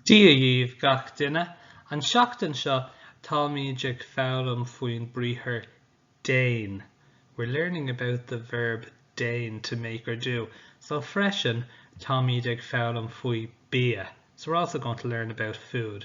Dia dhíbh gach duine. An seachtain seo táimíd ag foghlaim faoin briathar Dein. We're learning about the verb dein, to make or do. So freisin táimíd ag foghlaim faoi bia. So we're also going to learn about food.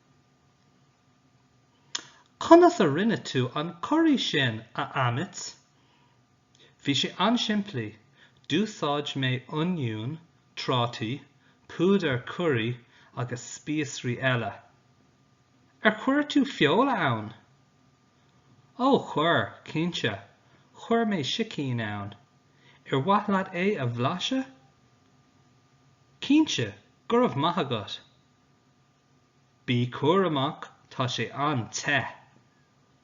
Conas a rinne tú an curry sin, a Amit? Bhí sé an-simplí, d'úsáid mé oinniún, trátaí, púdar curry agus spíosraí eile. Ar chuir tú feoil ann? Ó, chuir, cinnte, chuir mé sicín ann. Ar mhaith leat é a bhlaiseadh? Cinnte, go raibh maith agat! Bí cúramach, tá sé an-te.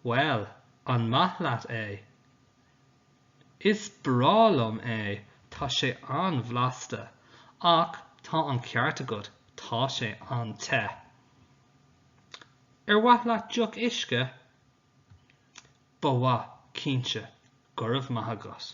Bhuel, an maith leat é? Is breá liom é, tá sé an-bhlasta, ach tá an ceart agat, tá sé an-te. Ar mhaith leat deoch uisce? Ba mhaith, cinnte, go raibh maith agat.